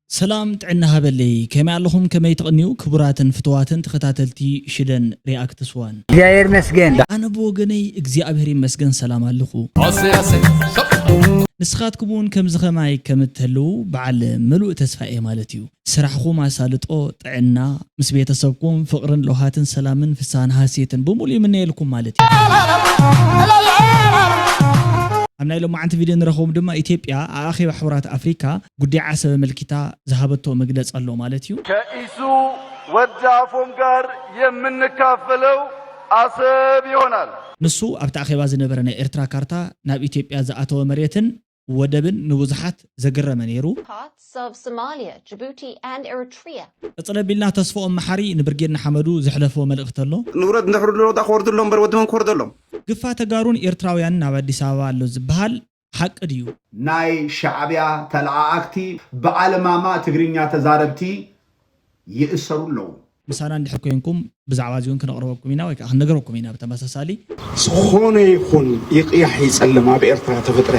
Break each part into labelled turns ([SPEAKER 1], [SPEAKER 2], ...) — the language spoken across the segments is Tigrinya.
[SPEAKER 1] ሰላም ጥዕና ሃበለይ ከመይ ኣለኹም ከመይ ትቅንዩ ክቡራትን ፍትዋትን ተኸታተልቲ ሽደን ሪኣክትስ ዋን። እግዚኣብሔር ይመስገን።
[SPEAKER 2] ኣነ ብወገነይ
[SPEAKER 1] እግዚኣብሔር ይመስገን ሰላም ኣለኹ። ኣሰይ ኣሰይ። ንስኻትኩም እውን ከምዚ ከማይ ከም እትህልዉ በዓል ምሉእ ተስፋ እየ ማለት እዩ። ስራሕኹም ኣሳልጦ፣ ጥዕና፣ ምስ ቤተሰብኩም ፍቕርን ለውሃትን ሰላምን ፍስሃን ሃሴትን ብምሉእ ይምነየልኩም ማለት እዩ። ኣብ ናይ ሎማዓንቲ ቪድዮ ንረኽቦም ድማ ኢትዮጵያ ኣብ ኣኼባ ሕቡራት ኣፍሪካ ጉዲያ ዓሰብ ኣመልኪታ ዝሃበቶ መግለጺ ኣሎ ማለት እዩ። ከኢሱ
[SPEAKER 3] ወዲ ኣፎም ጋር የምንካፈለው ኣሰብ ይሆናል። ንሱ ኣብቲ ኣኼባ
[SPEAKER 1] ዝነበረ ናይ ኤርትራ ካርታ ናብ ኢትዮጵያ ዝኣተወ መሬትን ወደብን ንብዙሓት ዘገረመ ነይሩ። parts of
[SPEAKER 4] Somalia, Djibouti and Eritrea። ቅጽል ኣቢልና
[SPEAKER 1] ተስፎኦም መሓሪ ንብርጌድ ንሓመዱ ዘሕለፎ መልእኽቲ ኣሎ። ንውረድ ንድሕሪ ድሮ'ዳ
[SPEAKER 5] ክወርዱ ኣሎዎም እምበር ወዲ መን ክወርደሎም። ግፋ ተጋሩን
[SPEAKER 1] ኤርትራውያንን ኣብ ኣዲስ ኣበባ ኣሎ ዝብሃል ሓቂ ድዩ? ናይ ሻዕብያ
[SPEAKER 6] ተለኣኣክቲ ብኣልማማ ትግርኛ ተዛረብቲ ይእሰሩ ኣለዉ። ምሳና እንድሕር ኮይንኩም
[SPEAKER 1] ብዛዕባ እዚውን ክነቕርበኩም ኢና ወይ ከኣ ክንነግረኩም ኢና ብተመሳሳሊ። ዝኾነ
[SPEAKER 7] ይኹን ይቕያሕ ይጸልም ኣብ ኤርትራ ተፍጥረ።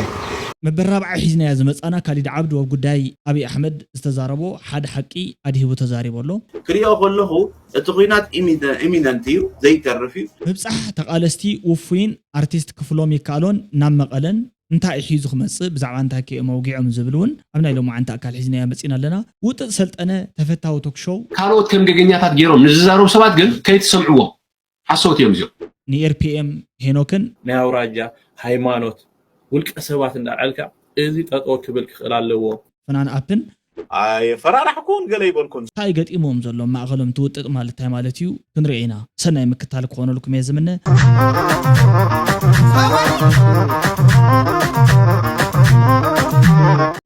[SPEAKER 7] መበል ራብዓይ
[SPEAKER 1] ሒዝናዮ ዝመጻና ካሊድ ዓብዱ ኣብ ጉዳይ ኣብይ ኣሕመድ ዝተዛረቦ ሓደ ሓቂ ኣድሂቡ ተዛሪቡ ኣሎ። ክሪኦ ከለኹ
[SPEAKER 5] እቲ ኹናት ኢሚነንት እዩ ዘይተርፍ እዩ። ምብጻሕ ተቓለስቲ
[SPEAKER 1] ውፉይን ኣርቲስት ክፍሎም ይከኣሎን ናብ መቐለን እንታይ እዩ ሒዙ ክመጽእ ብዛዕባ እንታይ ከ እዮም ኣውጊዖም ዝብል እውን ኣብ ናይ ሎምዓንቲ ኣካል ሒዝናዮ መጺእና ኣለና። ውጥጥ ሰልጠነ ተፈታዊ ቶክ ሾው። ካልኦት ከም ገገኛታት
[SPEAKER 8] ገይሮም ንዝዛረቡ ሰባት ግን ከይትሰምዕዎም። ሓሶት እዮም እዚኦም። ንኤርፒኤም
[SPEAKER 1] ሄኖክን። ናይ ኣውራጃ፣
[SPEAKER 9] ሃይማኖት፣ ውልቀ ሰባት እንዳኣልዕልካ እዚ ጠጠው ክብል ክኽእል ኣለዎ። ፍናን ኣፕን።
[SPEAKER 1] ኣየፈራራሕኩን
[SPEAKER 5] ገለ ኣይበልኩን። ታይ ገጢምዎም ዘሎ
[SPEAKER 1] ማእኸሎም ትውጥጥ ማለት ታይ ማለት እዩ ክንሪኦ ኢና ሰናይ ምክታል ክኾነልኩም እየ ዝምነ።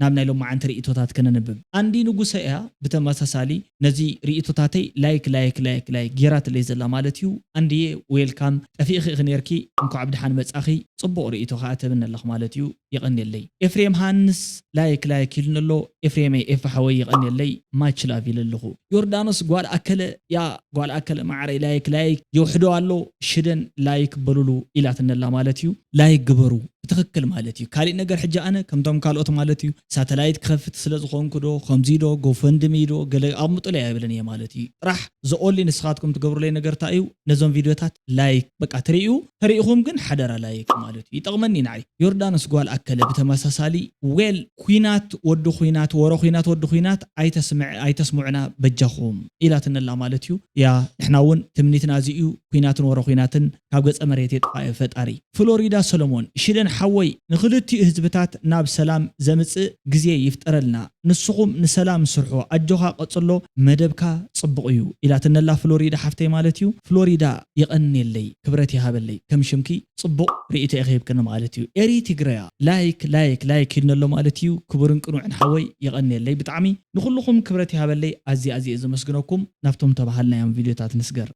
[SPEAKER 1] ናብ ናይ ሎማዓንቲ ሪኢቶታት ከነንብብ ኣንዲ ንጉሰ እያ ብተመሳሳሊ። ነዚ ሪኢቶታተይ ላይክ ላይክ ላይክ ላይክ ጌራትለይ ዘላ ማለት ዩ ኣንድየ ዌልካም ጠፊእኺ ኢኺ ኔርኪ እንኳዕ ብድሓን መፃኺ ፅቡቅ ሪኢቶ ከዓ ትህብኒ ኣለኺ ማለት ዩ የቀንየለይ ኤፍሬም ሃንስ ላይክ ላይክ ኢሉኒ ኣሎ ኤፍሬመይ ኤፊ ሓወይ የቀንየለይ ማች ላቭ ኢለ ኣለኹ ዮርዳኖስ ጓል ኣከለ እያ ጓል ኣከለ ማዓረይ ላይክ ላይክ የውሕዶ ኣሎ ሽደን ላይክ በሉሉ ኢላትነላ ማለት እዩ። ላይክ ግበሩ ብትክክል ማለት እዩ ካሊእ ነገር ሕጂ ኣነ ከምቶም ካልኦት ማለት እዩ ሳተላይት ክከፍት ስለ ዝኮንኩ ዶ ከምዙይ ዶ ጎፈንድሚ ዶ ገለ ኣቅምጡለይ ኣይብልን እየ ማለት እዩ ጥራሕ ዘኦንሊ ንስካትኩም ትገብሩለይ ነገር ታይ እዩ ነዞም ቪድዮታት ላይክ በቃ ትሪኡ ተሪኢኩም ግን ሓደራ ላይክ ማለት እዩ ይጠቅመኒ እዩ ንዓይ ዮርዳኖስ ጓል ኣከለ ብተመሳሳሊ ዌል ኩናት ወዲ ኩናት ወረ ኩናት ወዲ ኩናት ኣይተስምዕ ኣይተስሙዕና በጃኹም ኢላትነላ ማለት እዩ እያ ንሕና እውን ትምኒትና እዚ እዩ ኩናትን ወረ ኩናትን ካብ ገፀ መሬት የጥፋኤ ፈጣሪ ፍሎሪዳ ሰሎሞን ሽደን ሓወይ ንክልቲኡ ህዝብታት ናብ ሰላም ዘምፅእ ግዜ ይፍጠረልና ንስኹም ንሰላም ስርሑ ኣጆኻ ቀፅሎ መደብካ ፅቡቕ እዩ ኢላትነላ ፍሎሪዳ ሓፍተይ ማለት እዩ ፍሎሪዳ የቐንየለይ ክብረት ይሃበለይ ከም ሽምኪ ጽቡቅ ሪኢቶ ኢኺ ሂብክኒ ማለት እዩ ኤሪ ትግርያ ላይክ ላይክ ላይክ ሂድኒ ኣሎ ማለት እዩ ክቡርን ቅኑዕን ሓወይ የቀንየለይ ብጣዕሚ ንኹሉኹም ክብረት ይሃበለይ ኣዝየ ኣዝየ እየ ዘመስግነኩም ናብቶም ተባሃልናዮም ቪድዮታት ንስገር።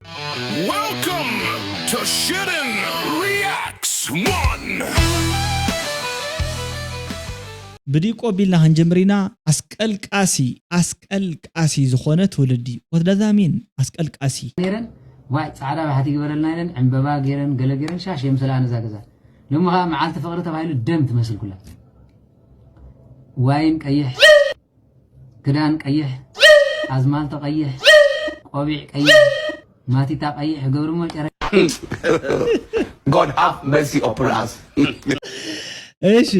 [SPEAKER 1] Welcome
[SPEAKER 10] to Shouldn Reacts One!
[SPEAKER 1] ብዲቁ ኣቢልና ክንጅምር ኢና ኣስቀልቃሲ ኣስቀልቃሲ ዝኾነ ትውልዲ what does that mean ኣስቀልቃሲ። ነይረን ዋይ
[SPEAKER 2] ጻዕዳ ባሕቲ ይግበረልና ኢለን ዕንበባ ጌረን ገለ ጌረን ሻሽ የምሰልኣን እዛ ገዛ ሎሚ ከኣ መዓልቲ ፍቕሪ ተባሂሉ ደም ትመስል ኩላ ዋይን ቀይሕ ክዳን ቀይሕ ኣዝማልቶ ቀይሕ ቆቢዕ ቀይሕ ማቲታ ቀይሕ ገብርሞ ጨረ
[SPEAKER 7] God have mercy upon us.
[SPEAKER 1] እሺ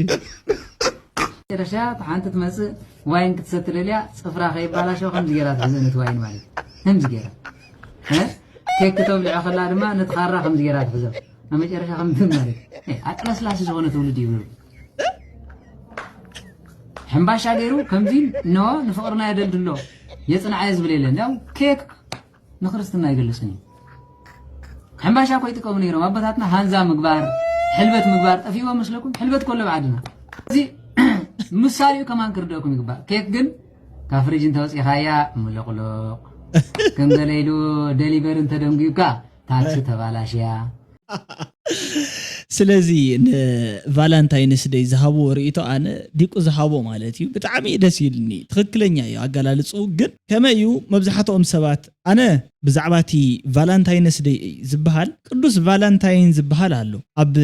[SPEAKER 2] ጨረሻ ሓንቲ ትመጽእ ዋይን ክትሰትለልያ ጽፍራ ከይባላሸው ከምዚ ጌራ ትሕዘን እቲ ዋይን ማለት ከምዚ ጌራ ቴክ ክተብልዖ ከላ ድማ ነቲ ካራ ከምዚ ገይራ ትሕዞ ኣብ መጨረሻ ከም ማለት ኣጥላስላሲ ዝኾነ ትውልድ እዩ ነይሩ ሕምባሻ ገይሩ ከምዚ ነዋ ንፍቕርና የደልድሎ የፅንዓየ ዝብል የለን ያው ኬክ ንክርስትና ይገልፅን እዩ ሕምባሻ እኮ ይጥቀሙ ነይሮም ኣቦታትና ሃንዛ ምግባር ሕልበት ምግባር ጠፊእዎ መስለኩም ሕልበት ኮሎ ብዓድና እዚ ምሳሌኡ ከማን ክርደእኩም ይግባእ ኬክ ግን ካብ ፍሪጅ እንተውፂኻያ ሙሉቕሉቕ ከም ገለ ኢሉ ደሊቨሪ እንተደንጉዩካ ታክሲ ተባላሽያ
[SPEAKER 1] ስለዚ ንቫላንታይንስ ደይ ዝሃብዎ ርእቶ ኣነ ዲቁ ዝሃቦ ማለት እዩ ብጣዕሚ ደስ ኢልኒ ትኽክለኛ እዩ ኣገላልፅኡ ግን ከመይ እዩ መብዛሕትኦም ሰባት ኣነ ብዛዕባ እቲ ቫላንታይነስ ደይ ዝበሃል ቅዱስ ቫላንታይን ዝበሃል ኣሎ ኣብ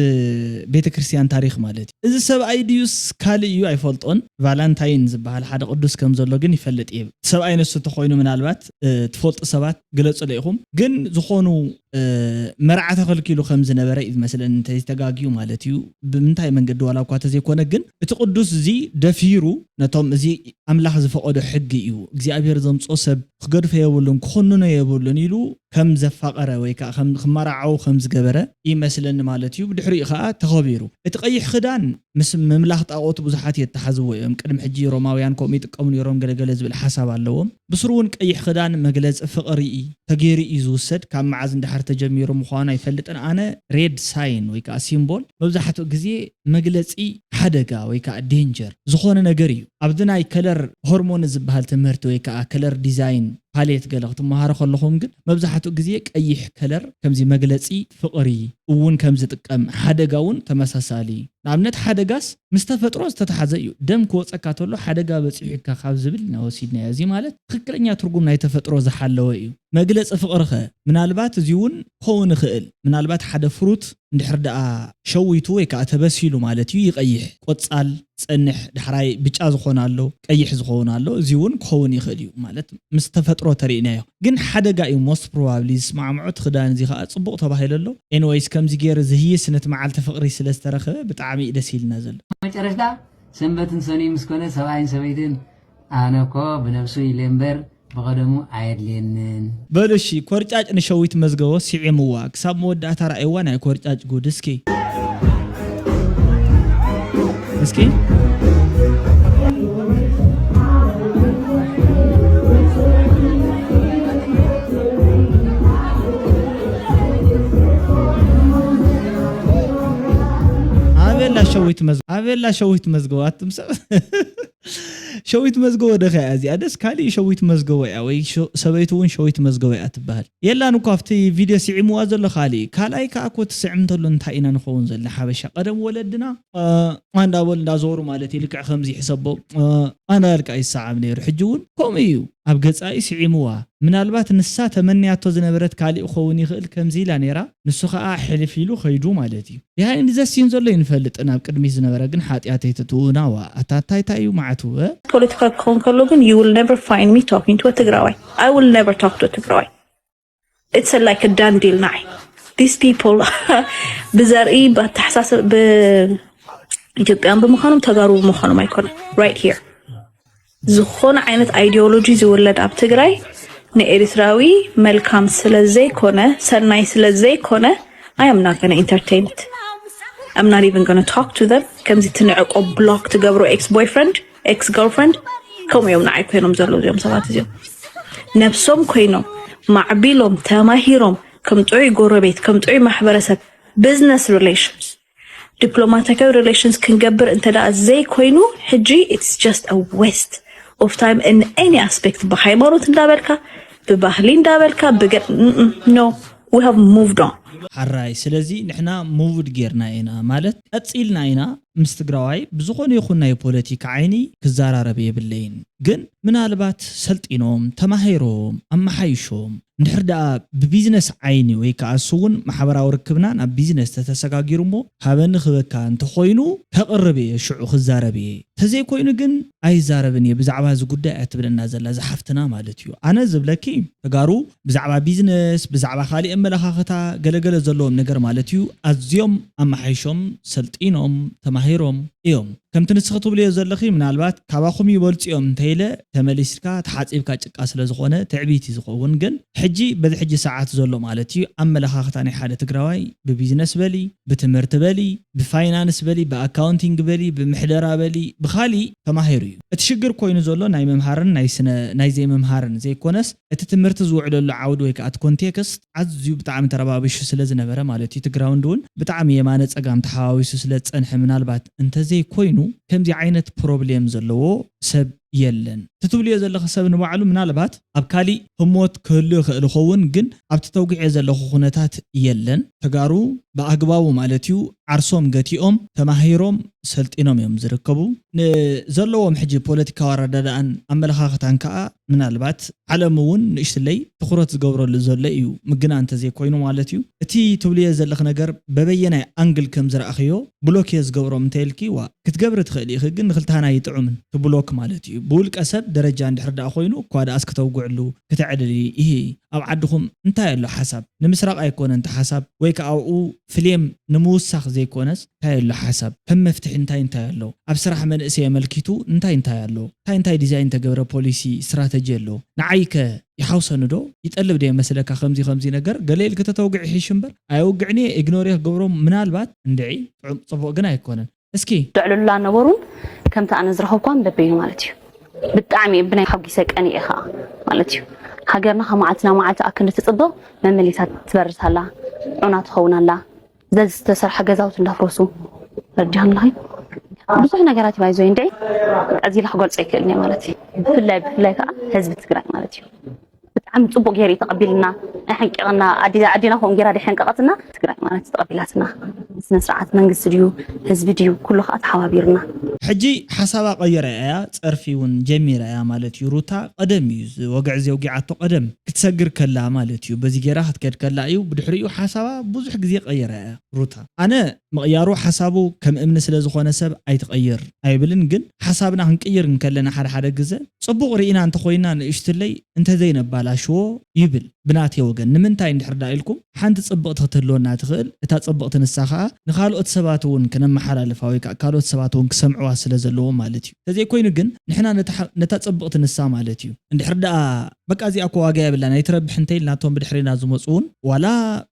[SPEAKER 1] ቤተክርስትያን ታሪኽ ማለት እዩ እዚ ሰብኣይ ድዩስ ካልእ እዩ ኣይፈልጦን ቫላንታይን ዝበሃል ሓደ ቅዱስ ከም ዘሎ ግን ይፈልጥ እየ እቲ ሰብኣይ ንሱ እንተኾይኑ ምናልባት ትፈልጡ ሰባት ግለጹለይ ኢኹም ግን ዝኾኑ መርዓ ተኸልኪሉ ከም ዝነበረ እዩ ዝመስለኒ እንተይተጋግዩ ማለት እዩ ብምንታይ መንገዲ ዋላ እኳ እንተዘይኮነ ግን እቲ ቅዱስ እዚ ደፊሩ ነቶም እዚ ኣምላኽ ዝፈቐዶ ሕጊ እዩ እግዚኣብሔር ዘምጽኦ ሰብ ክገድፎ የብሉን፣ ክኹንኖ የብሉን ኢሉ ከም ዘፋቐረ ወይ ከኣ ከም ክመራዓው ከም ዝገበረ ይመስለኒ ማለት እዩ። ብድሕሪኡ ከኣ ተኸቢሩ። እቲ ቀይሕ ክዳን ምስ ምምላኽ ጣኦት ብዙሓት የተሓዝዎ እዮም። ቅድሚ ሕጂ ሮማውያን ከምኡ ይጥቀሙ ነይሮም ገለ ገለ ዝብል ሓሳብ ኣለዎም። ብስሩ እውን ቀይሕ ክዳን መግለጺ ፍቕሪ ተገይሩ እዩ ዝውሰድ። ካብ መዓዝ ንደሓር ተጀሚሩ ምዃኑ ኣይፈልጥን ኣነ ሬድ ሳይን ወይ ከኣ ሲምቦል መብዛሕትኡ ግዜ መግለጺ ሓደጋ ወይ ከኣ danger ዝኾነ ነገር ኢዩ። ኣብዚ ናይ ከለር ሆርሞኒ ዝበሃል ትምህርቲ ወይ ከኣ ከለር ዲዛይን ፓሌት ገለ ክትመሃሩ ከለኹም ግን መብዛሕትኡ ግዜ ቀይሕ ከለር ከምዚ መግለጺ ፍቕሪ እውን ከም ዝጥቀም ሓደጋ እውን ተመሳሳሊ ንኣብነት ሓደጋስ ምስ ተፈጥሮ ዝተታሓዘ እዩ ደም ክወጸካ ተሎ ሓደጋ በጺሑካ ካብ ዝብል ኢና ወሲድናዮ እዚ ማለት ትኽክለኛ ትርጉም ናይ ተፈጥሮ ዝሓለወ እዩ። መግለጺ ፍቕሪኸ ምናልባት እዚ እውን ክኸውን ይኽእል ምናልባት ሓደ ፍሩት፣ እንድሕር ደኣ ሸዊቱ ወይ ከኣ ተበሲሉ ማለት እዩ ይቀይሕ፣ ቆጻል፣ ጸንሕ፣ ዳሕራይ ብጫ ዝኾን ኣሎ፣ ቀይሕ ዝኸውን ኣሎ፣ እዚ ውን ክኸውን ይኽእል እዩ ማለት ምስ ተፈጥሮ ተሪኢናዮ ግን ሓደጋ እዩ most probably ዝስማዕምዖ እቲ ክዳን እዚ ከኣ ጽቡቕ ተባሂሉ ኣሎ anyways ከምዚ ጌረ ዝህይስ ነቲ መዓልቲ ፍቕሪ ስለ ዝተረኽበ ብጣዕሚ እዩ ደስ ኢልና ዘሎ። መጨረሽታ
[SPEAKER 2] ሰንበትን ሰኑይ ምስ ኮነ ሰብኣይን ሰበይትን ኣነኮ ብነብሱ ኢለ እምበር ብቐደሙ ኣየድልየንን። በሉ እሺ
[SPEAKER 1] ኮርጫጭ ንሸዊት መዝገቦ ሲዒምዋ ክሳብ መወዳእታ ረኣይዋ ናይ ኮርጫጭ ጉድ እስኪ እስኪ። ኣበላ ሸዊት መዝገቦ ኣበላ ሸዊት መዝገቦ ኣቱም ሰብ ሸዊት መዝገቦ ዶ ከያ እዚኣ ደስ ካሊእ ሸዊት መዝገቦ እያ ወይ ሰበይቱ ውን ሸዊት መዝገቦ እያ ትበሀል የላን እኮ ኣብቲ ቪድዮ ሲዒምዋ ዘሎ ካሊእ ካልኣይ ከኣ እኮ ትስዕም እንተሎ እንታይ ኢና ንከውን ዘልና ሓበሻ ቀደም ወለድና እ እንዳ በሉ እንዳ ዞሩ ማለት እዩ ልክዕ ከምዚ ሕሰቦ እ ኣንዳበልካ እዩ ዝሰዓም ነይሩ ሕጂ ውን ከምኡ እዩ ኣብ ገጻ እዩ ሲዒምዋ ምናልባት ንሳ ተመንያቶ ዝነበረት ካሊእ ክከውን ይክእል ከምዚ ኢላ ነይራ ንሱ ከኣ ሕልፍ ኢሉ ከይዱ ማለት እዩ ድሃይ እንዲ ዘሲን ዘሎ ኣይንፈልጥን ኣብ ቅድሚት ዝነበረ ግን ሓጥያት ኣይትእትዉ ናዋ ኣታ ታይ ታይ እዩ ማዓቱ እእ። ፖለቲካ ክኸውን
[SPEAKER 11] ከሎ ግን you will never find me talking to a ትግራዋይ I will never talk to a ትግራዋይ it's a like a done deal ንዓይ these people ብዘርኢ ብኣተሓሳስብ ብ ኢትዮጵያውያን ብምዃኖም ተጋሩ ብምዃኖም ኣይኮነን right here ዝኾነ ዓይነት ኣይዲዮሎጂ ዝውለድ ኣብ ትግራይ ንኤሪትራዊ መልካም ስለ ዘይኮነ ሰናይ ስለ ዘይኮነ I am not gonna entertain it. I'm not even gonna talk to them. ከምዚ ትንዕቆ ብሎክ ትገብሮ ኤክስ ቦይፍረንድ ኤክስ ገርልፍረንድ ከምኡ እዮም ንዓይ ኮይኖም ዘለዉ እዚኦም ሰባት እዚኦም ነብሶም ኮይኖም ማዕቢሎም ተማሂሮም ከም ጥዑይ ጎረቤት ከም ጥዑይ ማሕበረሰብ ቢዝነስ ሪሌሽንስ ዲፕሎማቲካዊ ሪሌሽንስ ክንገብር እንተ ዘይኮይኑ ሕጂ ኢትስ ጀስት አ ዌስት ኦፍ ታይም ን ኤኒ ኣስፔክት ብሃይማኖት እንዳበልካ ብባህሊ እንዳበልካ ብገ ኖ ዊ ሃቭ ሙቭድ ኦን ሐራይ ስለዚ
[SPEAKER 1] ንሕና ሙቭድ ጌርና ኢና ማለት ቀጺልና ኢና ምስ ትግራዋይ ብዝኾነ ይኹን ናይ ፖለቲካ ዓይኒ ክዘራረብ የብለይን ግን ምናልባት ሰልጢኖም ተማሂሮም ኣመሓይሾም እንድሕር ደኣ ብቢዝነስ ዓይኒ ወይ ከኣ ንሱ'ውን ማሕበራዊ ርክብና ናብ ቢዝነስ ተተሰጋጊሩ'ሞ ሃበኒ ክህበካ እንተኾይኑ ከቕርብ እየ ሽዑ ክዛረብ እየ እንተዘይኮይኑ ግን ኣይዛረብን እየ ብዛዕባ እዚ ጉዳይ እያ ትብለና ዘላ እዛ ሓፍትና ማለት እዩ ኣነ ዝብለኪ ተጋሩ ብዛዕባ ቢዝነስ ብዛዕባ ካሊእ ኣመለኻኽታ ገለ ገለ ዘለዎም ነገር ማለት እዩ ኣዝዮም ኣመሓይሾም ሰልጢኖም ተማሂሮም እዮም ከምቲ ንስኺ ትብልዮ ዘለኺ ምናልባት ካባኹም ይበልጹ እዮም እንተ ኢለ ተመሊስካ ተሓጺብካ ጭቃ ስለ ዝኾነ ትዕቢት እዩ ዝኸውን ግን ሕጂ በዚ ሕጂ ሰዓት ዘሎ ማለት እዩ ኣመለኻኽታ ናይ ሓደ ትግራዋይ ብቢዝነስ በሊ ብትምህርቲ በሊ ብፋይናንስ በሊ ብኣካውንቲንግ በሊ ብምሕደራ በሊ ብኻሊእ ተማሂሩ እዩ እቲ ሽግር ኮይኑ ዘሎ ናይ ምምሃርን ናይ ስነ ናይ ዘይምምሃርን ዘይኮነስ እቲ ትምህርቲ ዝውዕለሉ ዓውዲ ወይ ከኣ እቲ ኮንቴክስት ኣዝዩ ብጣዕሚ ተረባቢሹ ስለ ዝነበረ ማለት እዩ ትግራውንድ ውን ብጣዕሚ የማነ ፀጋም ተሓዋዊሱ ስለ ዝፀንሐ ምናልባት እንተዘይ ኮይኑ ከምዚ ዓይነት ፕሮብሌም ዘለዎ ሰብ የለን እቲ ትብልዮ ዘለኺ ሰብ ንባዕሉ ምናልባት ኣብ ካሊእ ህሞት ክህሉ ይኽእል ይኸውን ግን ኣብቲ ተውጊዔ ዘለኹ ኩነታት የለን ተጋሩ ብኣግባቡ ማለት እዩ ዓርሶም ገቲኦም ተማሂሮም ሰልጢኖም እዮም ዝርከቡ ንዘለዎም ሕጂ ፖለቲካዊ ኣረዳድኣን ኣመለኻኽታን ከዓ ምናልባት ዓለም እውን ንእሽትለይ ትኹረት ዝገብረሉ ዘሎ እዩ ምግናን እንተዘይኮይኑ ማለት እዩ። እቲ ትብልዮ ዘለኺ ነገር በበየናይ ኣንግል ከም ዝረኣኽዮ ብሎክ እየ ዝገብሮም እንተይልኪ ዋእ ክትገብሪ ትኽእሊ ኢኺ ግን ንኽልተና ኣይጥዑምን እቲ ብሎክ ማለት እዩ ብውልቀ ሰብ ደረጃ እንድሕር ደኣ ኮይኑ እኳ ደኣስ ክተውግዕሉ ክተዕልሊ ኢሂ ኣብ ዓድኹም እንታይ ኣሎ ሓሳብ ንምስራቕ ኣይኮነን እቲ ሓሳብ ወይ ከኣ ኣብኡ ፍሌም ንምውሳኽ ዘይኮነስ እንታይ ኣሎ ሓሳብ ከም መፍትሒ እንታይ እንታይ ኣሎ ኣብ ስራሕ መንእሰይ ኣመልኪቱ እንታይ እንታይ ኣሎ እንታይ እንታይ ዲዛይን ተገብረ ፖሊሲ ስትራተጂ ኣሎ ንዓይ ከ ይሓውሰኒ ዶ ይጠልብ ዶ የመስለካ ከምዚ ከምዚ ነገር ገለ ኢልኪ ተተውግዒ ይሕሽ እምበር ኣየውግዕን እየ ኢግኖር እየ ክገብሮ ምናልባት እንድዒ ጥዑም ጽቡቅ ግን ኣይኮነን እስኪ ዘዕልሉላ ነበሩን
[SPEAKER 11] ከምቲ ኣነ ዝረኸብኳን በበይኑ ማለት እዩ ብጣዕሚ ብናይ ሓጒሰ ቀኒኤ ከዓ ማለት እዩ ሃገርና ካብ መዓልቲ ናብ መዓልቲ ኣክንዲ ትፅብቕ መመሊሳ ትበርስ ኣላ ዑና ትኸውን ኣላ ዘዚ ዝተሰርሐ ገዛውቲ እንዳፍረሱ ረዲሃንላይ ብዙሕ ነገራት ይባይ ዞይ እንድዒ እዚ ኢላ ክገልፆ ይክእል ማለት እዩ ብፍላይ ብፍላይ ከዓ ህዝቢ ትግራይ ማለት እዩ ብጣዕሚ ጽቡቅ ጌሩ እዩ ተቀቢሉና ኣሐንቂቅና ኣዴና ከምኡ ጌራ ደሐንቀቀትና ትግራይ ማለት ተቀቢላትና ስነስርዓት መንግስቲ ድዩ ህዝቢ ድዩ ኩሉ ከኣ ተሓባቢሩና። ሕጂ
[SPEAKER 1] ሓሳባ ቀይራ ኢያ ጸርፊ ውን ጀሚራ ኢያ ማለት ኢዩ ሩታ ቀደም ኢዩ እዚ ወግዒ እዚ ኣውጊዓቶ ቀደም ክትሰግር ከላ ማለት ኢዩ በዚ ጌራ ክትከድ ከላ ኢዩ ብድሕሪኡ ሓሳባ ብዙሕ ግዜ ቀይራ ኢያ ሩታ ኣነ ምቕያሩ ሓሳቡ ከም እምኒ ስለ ዝኾነ ሰብ ኣይትቐይር ኣይብልን ግን ሓሳብና ክንቅይር እንከለና ሓደ ሓደ ግዘ ፅቡቕ ሪኢና እንተኾይንና ንእሽትለይ እንተዘይነባላሽዎ ይብል ብናተይ ወገን ንምንታይ እንድሕር ድኣ ኢልኩም ሓንቲ ፅብቕቲ ክትህልወና ትኽእል እታ ፅብቕቲ ንሳ ኻዓ ንኻልኦት ሰባት እውን ክነመሓላልፋ ወይ ካዓ ካልኦት ሰባት እውን ክሰምዕዋ ስለ ዘለዎም ማለት እዩ ተዘይኮይኑ ግን ንሕና ነታ ፅብቕቲ ንሳ ማለት እዩ እንድሕር ድኣ በቃ እዚኣ እኮ ዋጋ የብላን ኣይትረብሕን እንተኢልና እቶም ብድሕሬና ዝመጹ ውን ዋላ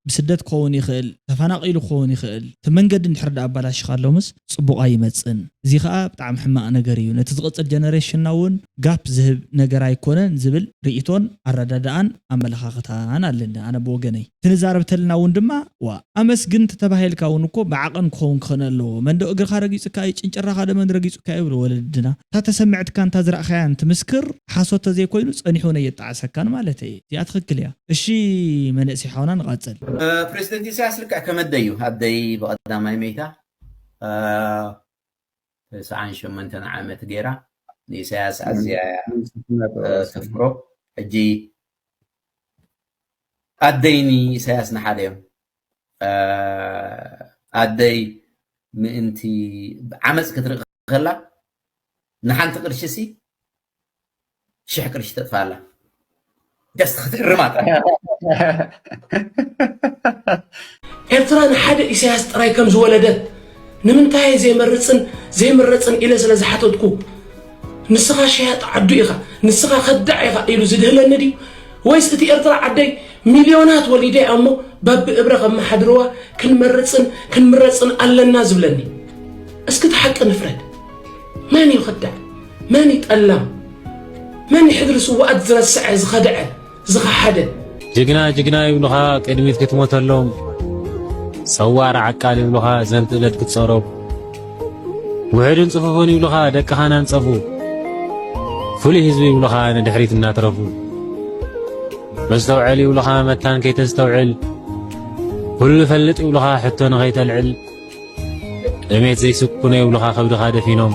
[SPEAKER 1] ብስደት ክኸውን ይኽእል ተፋናቂሉ ክኸውን ይኽእል እቲ መንገዲ እንድሕር ድኣ ኣባላሺኻሎምስ ጽቡቅ ኣይመጽን እዚ ከኣ ብጣዕሚ ሕማቅ ነገር እዩ ነቲ ዝቅጽል ጀነሬሽንና ውን ጋፕ ዝህብ ነገር ኣይኮነን ዝብል ሪኢቶን ኣረዳድኣን ኣመለኻኽታን ኣለኒ ኣነ ብወገነይ። ክንዛረብ ተለና ውን ድማ ዋእ ኣመስግን ተተባሂልካ ውን እኮ ብዓቐን ክኸውን ክኽነ ኣለዎ መንዶ እግርኻ ረጊጹካ እዩ ጭንጭራኻ ዶ መን ረጊጹካ እዩ ይብሉ ወለድና እታ ተሰምዕትካን እታ ዝራእኻያን ትምስክር ሓሶት ተዘይኮይኑ ጸኒሑ ውን ኣየጣዕሰካን ማለተይ እየ እዚኣ ትኽክል እያ እሺ መንእሰይ ሓውና ንቐጽል። ፕረሲደንት ኢሰያስ
[SPEAKER 5] ልክዕ ከመደይ እዩ ኣደይ ብቀዳማይ መይታ ተስዓን ሸሞንተን ዓመት ጌራ ንኢሳያስ ኣዝያ እያ ተፍቅሮ ሕጂ ኣደይ ንኢሳያስ ንሓደ እዮም ኣደይ ምእንቲ ዓመፅ ክትርኢ ከላ ንሓንቲ ቅርሺ ሲ ሽሕ ቅርሺ ተጥፋእ ኣላ ጀስት ክትእርማ ጥራሕ
[SPEAKER 12] ኤርትራ ንሓደ ኢሳያስ ጥራይ ከም ዝወለደት ንምንታይ ዘይመርጽን ዘይምረጽን ኢለ ስለ ዝሓተትኩ ንስኻ ሸያጥ ዓዱ ኢኻ ንስኻ ከዳዕ ኢኻ ኢሉ ዝድህለኒ ድዩ ወይስ እቲ ኤርትራ ዓደይ ሚልዮናት ወሊደ ኣሞ በቢ እብረ ከመሓድርዋ ክንመርጽን ክንምረጽን ኣለና ዝብለኒ እስኪ እቲ ሓቂ ንፍረድ መን እዩ ከዳዕ መን እዩ ጠላም መን እዩ ሕድሪ ስውኣት ዝረሰዐ ዝኸደዐ ዝኸሓደ። ጅግና
[SPEAKER 13] ጅግና ይብሉኻ ቅድሚት ክትሞተሎም ሰዋር ዓቃል ይብሉኻ ዘንት እለት ክትጸሮም ውሕድን ጽፉፉን ይብሉኻ ደቅኻ ናንጸፉ ፍሉይ ህዝቢ ይብሉኻ ንድሕሪት እናትረፉ መስተውዐል ይብሉኻ መታን ከይተስተውዕል ኩሉ ፈልጥ ይብሉኻ ሕቶ ንኸይተልዕል ጥሜት ዘይስኩኖ ይብሉኻ ከብድኻ ደፊኖም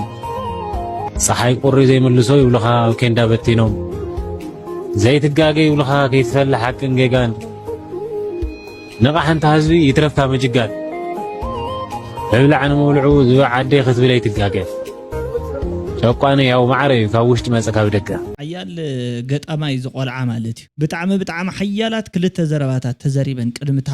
[SPEAKER 13] ጸሓይ ቁሪ ዘይምልሶ ይብሉኻ ኣብ ኬንዳ በቲኖም ዘይትጋገ ይብሉኻ ከይትፈል ሓቅን ጌጋን ንቓሕ እንታ ህዝቢ ይትረፍካ ምጅጋን እብላዕ ንምብልዑ ዝብዕ ዓዲ ክትብል ኣይትጋገ ጨቋኒ ያው ማዕረ እዩ ካብ ውሽጢ መጸ ካብ ደገ ሓያል
[SPEAKER 1] ገጣማይ ዝቆልዓ ማለት እዩ። ብጣዕሚ ብጣዕሚ ሓያላት ክልተ ዘረባታት ተዘሪበን ቅድሚ እታ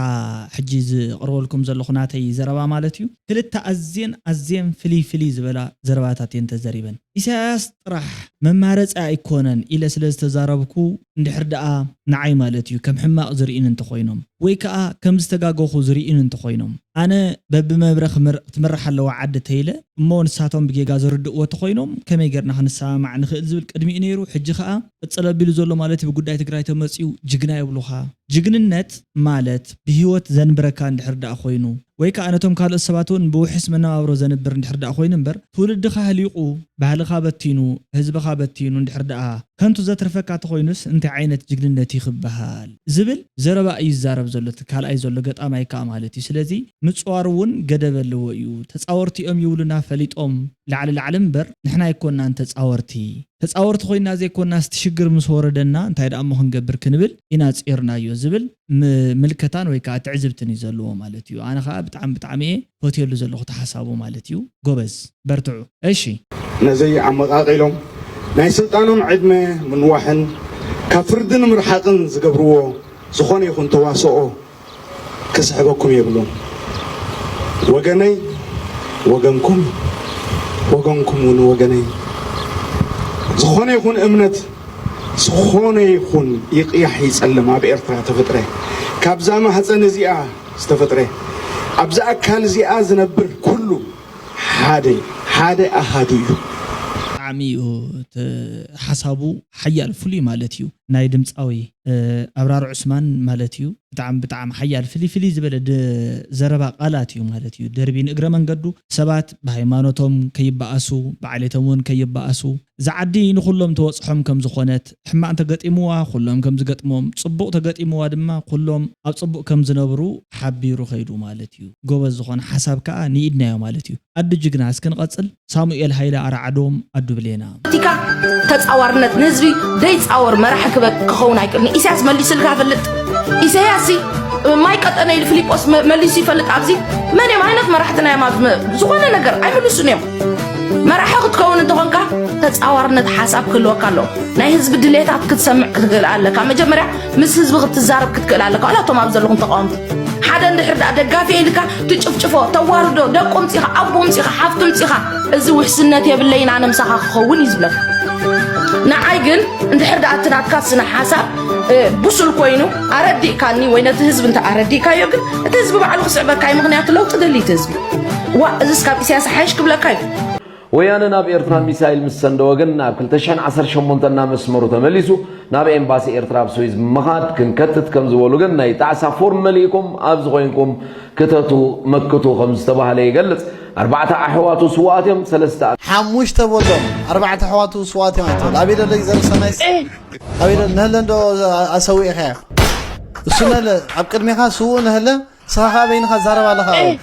[SPEAKER 1] ሕጂ ዝቕርበልኩም ዘለኹ ናተይ ዘረባ ማለት እዩ ክልተ ኣዝየን ኣዝየን ፍልይ ፍልይ ዝበላ ዘረባታት እየን ተዘሪበን ኢሳያስ ጥራሕ መማረጺ ኣይኮነን ኢለ ስለ ዝተዛረብኩ እንድሕር ደኣ ንዓይ ማለት እዩ ከም ሕማቕ ዝርእዩኒ እንተኾይኖም ወይ ከኣ ከም ዝተጋገኹ ዝርእዩኒ እንተኾይኖም ኣነ በብመብረ ክትምራሕ ኣለዋ ዓዲ ተይለ እሞ ንሳቶም ብጌጋ ዝርድእዎ ተኾይኖም ከመይ ጌርና ክንሰማማዕ ንኽእል ዝብል ቅድሚኡ ነይሩ ሕጂ ከኣ ቅፅል ኣቢሉ ዘሎ ማለት ብጉዳይ ትግራይ ተመፅዩ ጅግና የብሉኻ። ጅግንነት ማለት ብሂወት ዘንብረካ እንድሕር ድኣ ኮይኑ ወይ ከዓ ነቶም ካልኦት ሰባት እውን ብውሕስ መነባብሮ ዘንብር እንድሕር ድኣ ኮይኑ እምበር ትውልድኻ ኣህሊቁ ባህልኻ በቲኑ ህዝብኻ በቲኑ እንድሕር ድኣ ከንቱ ዘትርፈካ ተኾይኑስ እንታይ ዓይነት ጅግንነት እዩ ክበሃል ዝብል ዘረባ እዩ ዝዛረብ ዘሎ እቲ ካልኣይ ዘሎ ገጣማይ ከዓ ማለት እዩ ስለዚ ምፅዋር እውን ገደብ ኣለዎ እዩ ተፃወርቲ እዮም ይብሉና ፈሊጦም ላዕሊ ላዕሊ እምበር ንሕና ኣይኮናን ተፃወርቲ ተጻወርቲ ኮይና ዘይኮናስ እቲ ሽግር ምስ ወረደና እንታይ ደኣሞ ክንገብር ክንብል ኢና ጺርናዮ ዝብል ምልከታን ወይ ከኣ ትዕዝብትን እዩ ዘለዎ ማለት እዩ ኣነ ከኣ ብጣዕሚ ብጣዕሚ እየ ፈትየሉ ዘለኩ እቲ ሓሳቡ ማለት እዩ ጎበዝ በርትዑ እሺ ነዘይ
[SPEAKER 7] ኣመቓቒሎም ናይ ስልጣኖም ዕድመ ምንዋሕን ካብ ፍርዲ ንምርሓቕን ዝገብርዎ ዝኾነ ይኹን ተዋስኦ ክስሕበኩም የብሉን ወገነይ ወገንኩም ወገንኩም ውን ወገነይ ዝኾነ ይኹን እምነት ዝኾነ ይኹን ይቕያሕ ይጸልም ኣብ ኤርትራ ተፈጥረ ካብዛ ማህፀን እዚኣ ዝተፈጥረ ኣብዚ ኣካል እዚኣ ዝነብር ኩሉ ሓደ ሓደ ኣሃዱ እዩ ብጣዕሚ እዩ
[SPEAKER 1] እቲ ሓሳቡ ሓያል ፍሉይ ማለት እዩ ናይ ድምጻዊ። ኣብራር ዑስማን ማለት እዩ ብጣዕሚ ብጣዕሚ ሓያል ፍልይ ፍልይ ዝበለ ዘረባ ቃላት እዩ ማለት እዩ ደርቢ ንእግረ መንገዱ ሰባት ብሃይማኖቶም ከይበኣሱ ብዓሌቶም እውን ከይበኣሱ እዛ ዓዲ ንኹሎም ተበፅሖም ከም ዝኾነት ሕማቕ እንተገጢምዋ ኩሎም ከም ዝገጥሞም ፅቡቕ ተገጢምዋ ድማ ኩሎም ኣብ ፅቡቕ ከም ዝነብሩ ሓቢሩ ከይዱ ማለት እዩ ጎበዝ ዝኾነ ሓሳብ ከዓ ንኢድናዮ ማለት እዩ ኣዱ ጅግና እስኪ ንቐፅል። ሳሙኤል ሃይለ ኣርዓዶም ኣዱ ብሌና። ቲካ
[SPEAKER 14] ተጻዋርነት ንህዝቢ ደይጻወር መራሒ ክበ ክኸውን ኣይክእልን ኢሳያስ መሊስልካ ፈልጥ ኢሳያስ ሲ ማይ ቀጠነ ኢሉ ፊሊጶስ መ- መሊሱ ይፈልጥ ኣብዚ መን እዮም ዓይነት መራሕትና እዮም ኣብ መ- ዝኾነ ነገር ኣይምልሱን እዮም መራሒ ክትከውን እንተኾንካ ተጻዋርነት ሓሳብ ክህልወካ ኣለዎ ናይ ህዝቢ ድሌታት ክትሰምዕ ክትግል ኣለካ መጀመርያ ምስ ህዝቢ ክትዛረብ ክትክእል ኣለካ ዋላ እቶም ኣብ ዘለኹም ተቃወምቲ ሓደ እንድሕር ደኣ ደጋፊ ኢልካ ትጭፍጭፎ ተዋርዶ ደቁ ምፂኻ ኣቦ ምፂኻ ሓፍቱ ምፂኻ እዚ ውሕስነት የብለይን ኣነ ምሳኻ ክኸውን እዩ ዝብለካ ንዓይ ግን እንድሕር ደኣ እቲ ናትካ ስነ ሓሳብ ብሱል ኮይኑ ኣረዲእካኒ ወይ ነቲ ህዝቢ እንተ ኣረዲእካዮ ግን እቲ ህዝቢ ባዕሉ ክስዕበካ እዩ ምክንያቱ ለውጢ ደሊ እቲ ህዝቢ ዋ እዚስ ካብ ኢሳያስ ሓይሽ ክብለካ እዩ ወያነ ናብ
[SPEAKER 15] ኤርትራ ሚሳይል ምስ ሰንደወ ግን ናብ ክልተ ሽሕን ዓሰርተ ሸሞንተን ናብ መስመሩ ተመሊሱ ናብ ኤምባሲ ኤርትራ ኣብ ስዊዝ ብምኻድ ክንከትት ከም ዝበሉ ግን ናይ ጣዕሳ ፎርም መሊእኩም ኣብዚ ኮይንኩም ክተቱ መክቱ ከም ዝተባህለ ይገልጽ። ኣርባዕተ ኣሕዋቱ ስውኣት እዮም። ሰለስተ። ሓሙሽተ በሎም
[SPEAKER 16] ኣርባዕተ ኣሕዋቱ ስውኣት እዮም ኣይትበል። ኣበይ ደሎ እዩ ዘርሰናይስ? ኣበይ ደሎ ነህለ እንዶ ኣሰዊእካዮ እሱ ነህለ ኣብ ቅድሜኻ ስውእ ነህለ ንስኻ ከኣ በይንኻ ትዛረብ ኣለኻ ኣብኡ።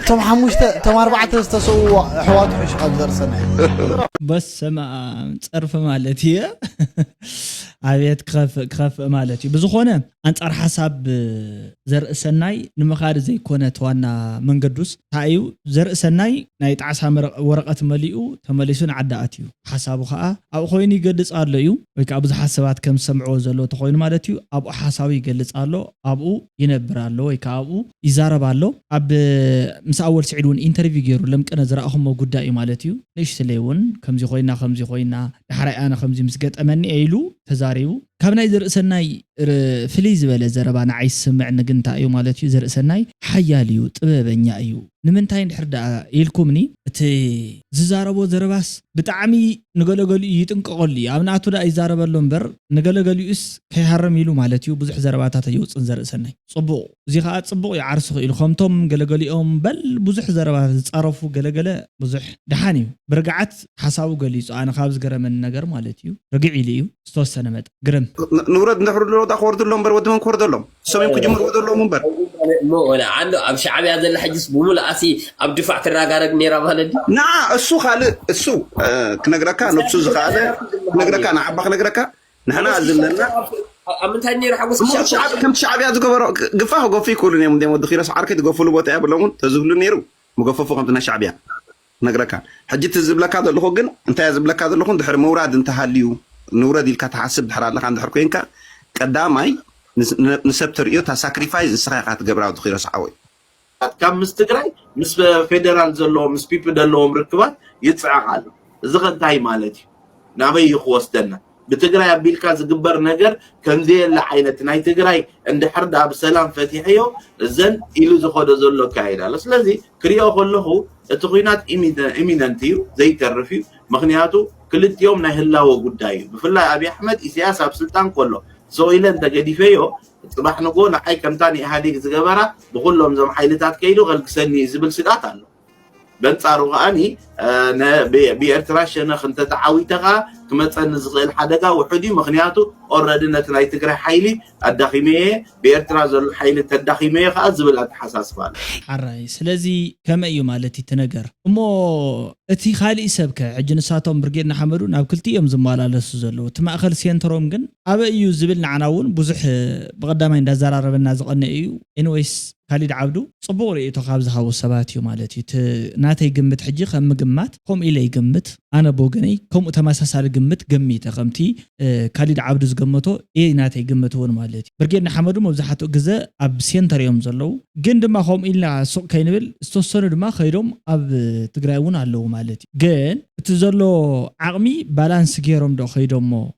[SPEAKER 16] እቶም ሓሙሽተ እቶም ኣርባዕተ ዝተሰውኡ ኣሕዋቱ ሕሹ ካብ ዘርሰነ።
[SPEAKER 1] በስመኣም ጸርፊ ማለት እየ ኣቤት ክኸፍእ ክኸፍእ ማለት እዩ ብዝኾነ ኣንጻር ሓሳብ ዘርእሰናይ ንምኻድ ዘይኮነ ተዋና መንገዱስ ታይ እዩ ዘርእሰናይ ናይ ጣዕሳ ወረቀት መሊኡ ተመሊሱ ንዓዲ ኣትዩ ሓሳቡ ከኣ ኣብኡ ኮይኑ ይገልጽ ኣሎ እዩ ወይ ከኣ ብዙሓት ሰባት ከም ዝሰምዕዎ ዘለው ተኾይኑ ማለት እዩ፣ ኣብኡ ሓሳቡ ይገልጽ ኣሎ፣ ኣብኡ ይነብር ኣሎ ወይ ከኣ ኣብኡ ይዛረብ ኣሎ። ኣብ ምስ ኣወል ስዒድ ውን ኢንተርቪው ጌሩ ለምቅነ ዝረኣኹሞ ጉዳይ እዩ ማለት እዩ። ንእሽትለይ ውን ከምዚ ኮይና ከምዚ ኮይና ዳሕራይ ኣነ ከምዚ ምስ ገጠመኒ እየ ኢሉ ተዛሪቡ። ካብ ናይ ዘርእሰናይ ፍልይ ዝበለ ዘረባ ንዓይ ዝስምዕኒ ግን እንታይ እዩ ማለት እዩ፣ ዘርእሰናይ ሓያል እዩ፣ ጥበበኛ እዩ፣ ንምንታይ እንድሕር ደኣ ኢልኩምኒ፣ እቲ ዝዛረቦ ዘረባስ ብጣዕሚ ንገለ ገሊኡ ይጥንቀቐሉ እዩ፣ ኣብ ናቱ ደኣ ይዛረበሉ እምበር ንገለ ገሊኡስ ከይሃርም ኢሉ ማለት እዩ ብዙሕ ዘረባታት ኣየውጽእን ዘርእሰናይ። ጽቡቕ፣ እዚ ከኣ ጽቡቕ እዩ ዓርሱ ክኢሉ፣ ከምቶም ገለ ገሊኦም በል ብዙሕ ዘረባ ዝጻረፉ ገለ ገለ ብዙሕ ደሓን እዩ ብርግዓት ሓሳቡ ገሊጹ፣ ኣነ ካብ ዝገረመኒ ነገር ማለት እዩ ርግዕ ኢሉ እዩ ዝተወሰነ መጠን፣ ግርም። ንውረድ እንድሕር ድሮ
[SPEAKER 6] ደኣ ክወርዱ ኣሎዎም እምበር ወዲ መን ክወርደሎም። እሶም እዮም ክጅምርዎ ዘለዎም እምበር እሞ ወላ
[SPEAKER 17] ኣሎ ኣብ ሻዕብያ ዘላ ሕጅስ ብምሉኣሲ ኣብ ድፋዕ ትራጋረግ ነይራ ማለት ድዩ ንዓ እሱ
[SPEAKER 6] ካልእ እሱ እ፣ ክነግረካ ነብሱ ዝኸኣለ ክነግረካ ንዓባ ክነግረካ ንሕና ሓጎስ ክሻብ ዘለና ኣብ ኣብ ምንታይ
[SPEAKER 17] ነይሩ ሓጎስ እሞ ክሻብ ከምቲ ሻዕብ- ከምቲ ሻዕብያ
[SPEAKER 6] ዝገበሮ ግ- ግፋ ክገፉ ይክእሉን እዮም እንዲም ወዲ ኪሮስ ዓርከይ ትገፍሉ ቦታ የብሎምን ተዝህሉ ነይሩ ምገፈፉ ከምቲ ናይ ሻዕብያ ክነግረካን ሕጂ እቲ ዝብለካ ዘለኹ ግን እንታይ ዝብለካ ዘለኹ እንድሕር ምውራድ እንተሃልዩ ንውረድ ኢልካ ትሓስብ ድሕር ኣለኻ እንድሕር ኮንካ ቀዳማይ ንሰብ ተርእዮ እታ ሳክሪፋይዝ ንስኻ ኢኻ ትገብራ ወዲ ኪሮስ ሓወይ። ካብ ምስ
[SPEAKER 5] ትግራይ ምስ ፌደራል ዘለዎም ምስ ፒፒ ደለዎም ርክባት ይጽዕቅ ኣሎ እዚ ከ እንታይ ማለት እዩ። ናበይ እዩ ክወስደና ብትግራይ ኣቢልካ ዝግበር ነገር ከምዘየለ ዓይነት ናይ ትግራይ እንድሕር ድኣ ብሰላም ፈቲሐዮ እዘን ኢሉ ዝኸዶ ዘሎ ኣካይዳ ኣሎ ስለዚ ክሪኦ ከለኹ እቲ ኩናት ኢሚነንት እዩ ዘይተርፍ እዩ ምክንያቱ ክልቲኦም ናይ ህላወ ጉዳይ እዩ ብፍላይ ኣብዪ ኣሕመድ ኢሳያስ ኣብ ስልጣን ከሎ ሰውኢለ እንተገዲፈዮ ፅባሕ ንጎ ንዓይ ከምታ ንኢህኣዴግ ዝገበራ ብኩሎም እዞም ሓይልታት ከይዱ ከልግሰኒ እዩ ዝብል ስግኣት ኣሎ በንጻሩ ከኣ ብኤርትራ ሸነኽ እንተተዓዊተ ከኣ ክመጸኒ ዝኽእል ሓደጋ ውሑድ እዩ ምኽንያቱ ኦረዲ ነቲ ናይ ትግራይ ሓይሊ ኣዳኺመዮ እየ ብኤርትራ ዘሎ ሓይሊ ተዳኺመዮ ከኣ ዝብል ኣተሓሳስባ ኣሎ። ሐራይ ስለዚ
[SPEAKER 1] ከመይ እዩ ማለት እቲ ነገር እሞ እቲ ካሊእ ሰብ ከ ሕጂ ንሳቶም ብርጌድ ንሓመዱ ናብ ክልቲኡ እዮም ዝማላለሱ ዘለዉ እቲ ማእከል ሴንተሮም ግን ኣበይ እዩ ዝብል ንዓና ውን ብዙሕ ብቀዳማይ እንዳዛራረበና ዝቀነኤ እዩ ኤኒወይስ ካሊድ ዓብዱ ጽቡቕ ርእይቶ ካብ ዝሃቡ ሰባት እዩ ማለት እዩ። እቲ ናተይ ግምት ሕጂ ከም ምግማት ከምኡ ኢለ ይገምት። ኣነ ብወገነይ ከምኡ ተመሳሳሊ ግምት ገሚተ ከምቲ ካሊድ ዓብዱ ዝገመቶ እየ ናተይ ግምት እውን ማለት እዩ። ብርጌድ ንሓመዱ መብዛሕትኡ ግዘ ኣብ ሴንተር እዮም ዘለዉ። ግን ድማ ከምኡ ኢልና ሱቕ ከይንብል ዝተወሰኑ ድማ ከይዶም ኣብ ትግራይ እውን ኣለዉ ማለት እዩ። ግን እቲ ዘሎ ዓቕሚ ባላንስ ገይሮም ዶ ከይዶሞ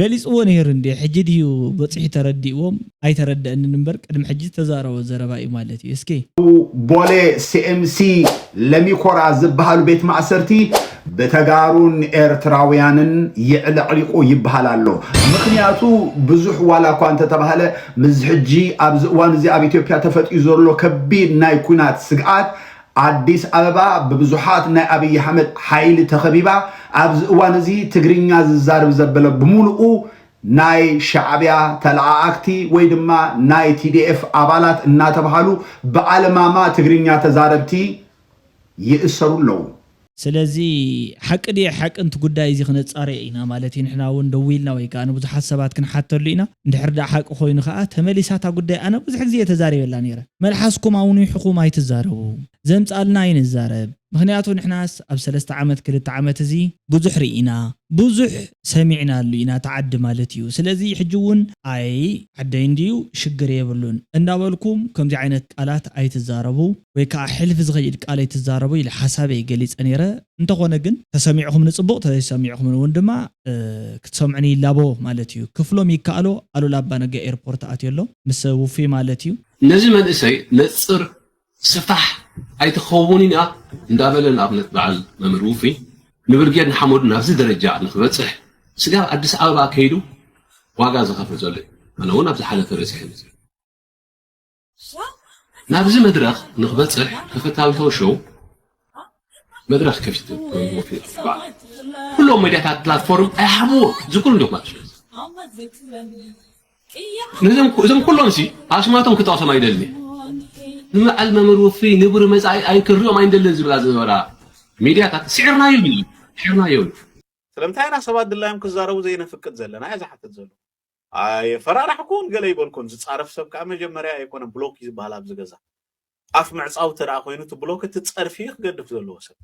[SPEAKER 1] ገሊጽዎ ነይሩ እንድየ ሕጂ ድዩ በጺሑ ተረዲእዎም ኣይተረደኣንን እምበር ቅድሚ ሕጂ ዝተዛረቦ ዘረባ እዩ ማለት እዩ እስኪ ኣብ ቦሌ
[SPEAKER 7] ሲኤምሲ ለሚኮራ ዝብሃሉ ቤት ማእሰርቲ ብተጋሩን ኤርትራውያንን የዕለቕሊቑ ይብሃል ኣሎ። ምኽንያቱ ብዙሕ ዋላ እኳ እንተተባህለ ምስዚ ሕጂ ኣብዚ እዋን እዚ ኣብ ኢትዮጵያ ተፈጢዩ ዘሎ ከቢድ ናይ ኲናት ስግኣት ኣዲስ ኣበባ ብብዙሓት ናይ ኣብይ ኣሕመድ ሓይሊ ተኸቢባ ኣብዚ እዋን እዚ ትግርኛ ዝዛርብ ዘበለ ብሙሉኡ ናይ ሻዕቢያ ተለኣኣክቲ ወይ ድማ ናይ TDF ኣባላት እናተብሃሉ ብኣለማማ ትግርኛ ተዛረብቲ ይእሰሩ ኣለዉ። ስለዚ
[SPEAKER 1] ሓቂ ድየ ሓቂ ንቲ ጉዳይ እዚ ክነጻርዮ ኢና ማለት እዩ ንሕና ውን ደዊልና ወይ ከኣ ንብዙሓት ሰባት ክንሓተሉ ኢና እንድሕር ደኣ ሓቂ ኮይኑ ከኣ ተመሊሳ እታ ጉዳይ ኣነ ብዙሕ ግዜ እየ ተዛሪበላ ነይረ መልሓስኩም ኣውኒሑኩም ኣይትዛረቡ ዘምጻልና ኣይንዛረብ ምክንያቱ ንሕናስ ኣብ ሰለስተ ዓመት ክልተ ዓመት እዚ ብዙሕ ሪኢና ብዙሕ ሰሚዕናሉ ኢና እቲ ዓዲ ማለት እዩ ስለዚ ሕጂ ውን ኣይ ዓደይ እንድዩ ሽግር የብሉን እንዳበልኩም ከምዚ ዓይነት ቃላት ኣይትዛረቡ። ወይ ካኣ ሕልፍ ዝኸይድ ቃል ኣይትዛረቡ ኢለ ሓሳበይ ገሊጸ ኔረ እንተኾነ ግን ተሰሚዕኹምኒ ጽቡቕ ተዘይሰሚዕኹምኒ ውን ድማ ክትሰምዑኒ ይላቦ ማለት ኢዩ ክፍሎም ይካኣሎ ኣሉላ ኣባነጋ ኤርፖርት ኣትዮ ኣሎ ምስ ውፉይ ማለት ኢዩ ነዚ መንእሰይ
[SPEAKER 8] ነጽር ስፋሕ ኣይትኸውንን እያ እንዳበለ ንኣብነት በዓል መምህር ውፉይ ንብርጌድ ንሓመዱ ናብዚ ደረጃ ንኽበጽሕ ስጋብ ኣዲስ ኣበባ ከይዱ ዋጋ ዝኸፍል ዘሎ እዩ ኣነ ውን ኣብ ዝሓለፈ በጺሐ መጺኤ። ናብዚ መድረኽ ንክበፅሕ ተፈታዊ ቶው ሾው መድረኽ ከፊቱ ኩሎም ሚዲያታት ፕላትፎርም ኣይሃብዎ እዚ ኩሉ ዶክመንት ስለ እዞም ኩሎም ሲ ኣስማቶም ክጠቕሶም ኣይደሊ ንበዓል መምህር ውፍይ ንቡር መጻኢ ኣይክርኦም ኣይንደልን ዝብላ ዝነበራ ሚድያታት ስዒርናዮ ስዒርናዮ ስለምንታይ ኢና
[SPEAKER 18] ሰባት ድላዮም ክዛረቡ ዘይነፍቅድ ዘለና እያ ዝሓትት ዘሎ ኣየፈራራሕኩን ገለ ኣይበልኩን ዝጻረፍ ሰብ ከኣ መጀመርያ ኣይኮነን ብሎክ እዩ ዝበሃል ኣብዚ ገዛ ኣፍ ምዕጻው እንተ ኮይኑ እቲ ብሎክ እቲ ጸርፊ እዩ ክገድፍ ዘለዎ ሰብ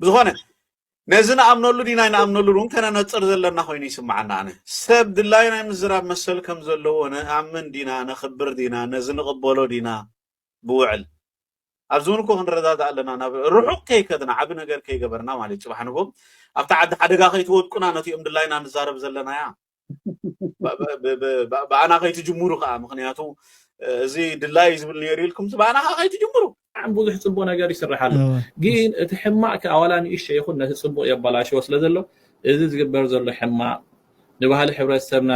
[SPEAKER 18] ብዝኾነ ነዚ ንኣምነሉ ዲና ንኣምነሉ እውን ከነነጽር ዘለና ኮይኑ ይስምዓና ኣነ ሰብ ድላይ ናይ ምዝራብ መሰል ከም ዘለዎ ንኣምን ዲና ነኽብር ዲና ነዚ ንቕበሎ ዲና ብውዕል ኣብዚ ውን እኮ ክንረዳዳእ ኣለና ናብ ርሑቅ ከይከድና ዓቢ ነገር ከይገበርና ማለት ጽባሕ ንግሆ ኣብታ ዓዲ ሓደጋ ከይትወድቁና ነቲኦም ድላይና ንዛረብ ዘለናያ ብኣና ከይትጅምሩ ከኣ ምክንያቱ እዚ ድላይ ዝብል ነይሩ ኢልኩም ብኣና ከኣ ከይትጅምሩ ብጣዕሚ ብዙሕ ፅቡቅ ነገር ይስራሕ ኣሎ ግን እቲ ሕማቅ ከዓ ዋላ ንእሸ ይኹን ነቲ ፅቡቅ የበላሽዎ ስለ ዘሎ እዚ ዝግበር ዘሎ ሕማቅ ንባህሊ ሕብረተሰብና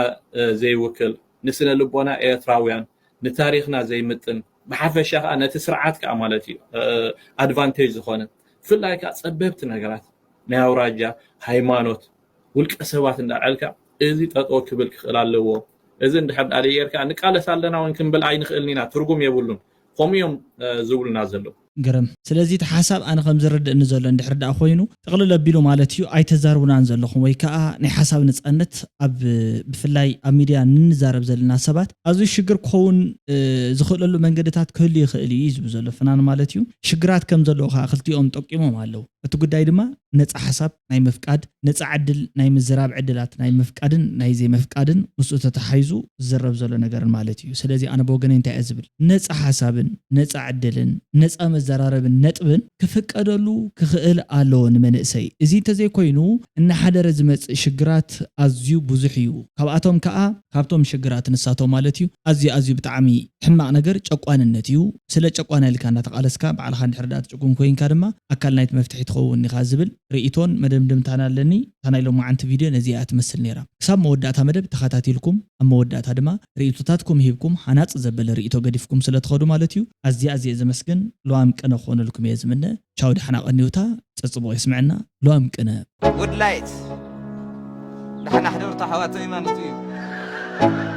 [SPEAKER 18] ዘይውክል ንስነ ልቦና ኤርትራውያን ንታሪኽና ዘይምጥን ብሓፈሻ ከኣ ነቲ ስርዓት ከኣ ማለት እዩ ኣድቫንቴጅ ዝኾነ ብፍላይ ከኣ ጸበብቲ ነገራት ናይ ኣውራጃ ሃይማኖት ውልቀ ሰባት እንዳ ኣልዕልካ እዚ ጠጠው ክብል ክኽእል ኣለዎ እዚ እንድሕር ደኣ ዘይጌርካ ንቃለስ ኣለና እውን ክንብል ኣይንኽእልን ኢና ትርጉም የብሉን ከምኡ እዮም ዝብሉና ዘለዉ ግርም።
[SPEAKER 1] ስለዚ እቲ ሓሳብ ኣነ ከም ዝርድእኒ ዘሎ እንድሕር ድኣ ኮይኑ ጥቕልል ኣቢሉ ማለት እዩ ኣይተዛርቡናን ዘለኹም ወይ ክኣ ናይ ሓሳብ ንጸነት ኣብ ብፍላይ ኣብ ሚድያ ንንዛረብ ዘለና ሰባት ኣዝዩ ሽግር ክኸውን ዝኽእለሉ መንገድታት ክህሉ ይኽእል እዩ እዩ ዝብሉ ዘሎ ፍናን ማለት እዩ። ሽግራት ከም ዘለዎ ክኣ ክልቲኦም ጠቂሞም ኣለዉ። እቲ ጉዳይ ድማ ነጻ ሓሳብ። ናይ ምፍቃድ፣ ነጻ ዕድል ናይ ምዝራብ ዕድላት ናይ ምፍቃድን ናይ ዘይምፍቃድን ምስኡ ተተሓሒዙ ዝዝረብ ዘሎ ነገርን ማለት እዩ። ስለዚ ኣነ ብወገነይ እንታይ እየ ዝብል፣ ነጻ ሓሳብን ነጻ ዕድልን ነጻ መዘራረብን ነጥብን ክፍቀደሉ ክኽእል ኣለዎ ንመንእሰይ። እዚ እንተዘይኮይኑ እናሓደረ ዝመጽእ ሽግራት ኣዝዩ ብዙሕ እዩ። ካብኣቶም ከኣ። ካብቶም ሽግራት ንሳቶም ማለት እዩ ኣዝዩ ኣዝዩ ብጣዕሚ ሕማቕ ነገር ጨቋንነት እዩ። ስለ ጨቋናይ ኢልካ እንዳተቓለስካ ባዕልኻ እንድሕር ድኣ ትጭቁን ኮይንካ ድማ ኣካል ናይቲ መፍትሒ ትኸውን ኢኻ ዝብል ርእይቶን መደምደምታን ኣለኒ። እታ ናይ ሎማዓንቲ ቪድዮ ነዚኣ እያ ትመስል ነይራ። ክሳብ መወዳእታ መደብ ተኻታቲልኩም ኣብ መወዳእታ ድማ ርእይቶታትኩም ሂብኩም ሃናጺ ዘበለ ርእይቶ ገዲፍኩም ስለ ትኸዱ ማለት እዩ ኣዝየ ኣዝየ ዘመስግን። ሉዋም ቅነ ክኾነልኩም እየ ዝምነ። ቻው ዳሕና ቀንዩ እታ ጸጽቡቕ የስመዐና ሉዋም ቅነ። Good light
[SPEAKER 19] ዳሕና ሕደሩ እታ ኣሕዋተይ ማለቱ እዩ።